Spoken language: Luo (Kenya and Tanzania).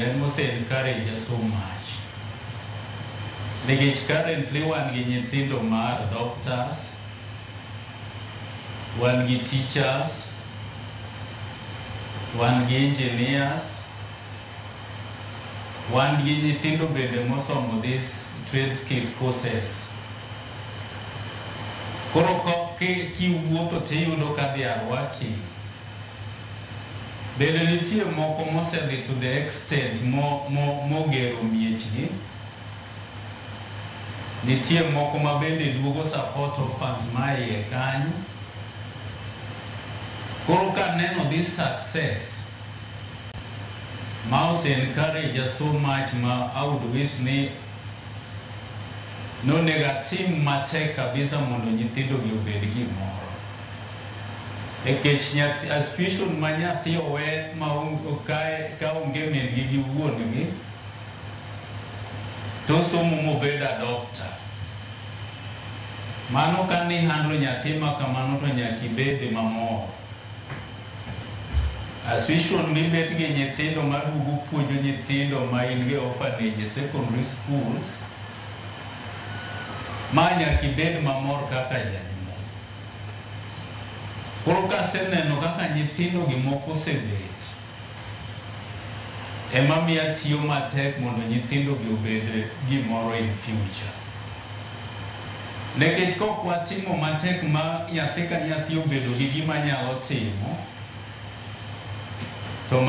That must encourage us so much. Nikech currently wan gi nyithindo mar doctors, wan gi teachers, wan gi engineers, wan gi nyithindo bende mosomo this trade skill courses. Koro ko- ki- kiwuotho tiyudo ka they are working Bende nitie moko mosedhi to the extent mo, mo, mogero miechgi. Nitie moko ma bende duogo support orphans ma iye kanyo. Koro ka neno this success ma ose encourage us so much ma I would wish ni nonego atim matek kabisa mondo nyithindogi obed gimoro. Nikech nyathi, a situation ma nyathi owe ma okae ka onge min gi gi wuon gi to somo mobed adopter. Mano ka ni handlo nyathi ma kamano to nyaka ibed mamor. A situation mibet gi nyithindo ma duogo puonjo nyithindo ma in go e orphanage e secondary schools ma nyaka ibed mamor kaka janyuol. Koro kaseneno kaka nyithindogi moko osebet, ema miyo atiyo matek mondo nyithindogi obed gimoro in future. Nekech kok watimo matek ma nyathi ka nyathi obedo gi gima nyalo timo, to ma.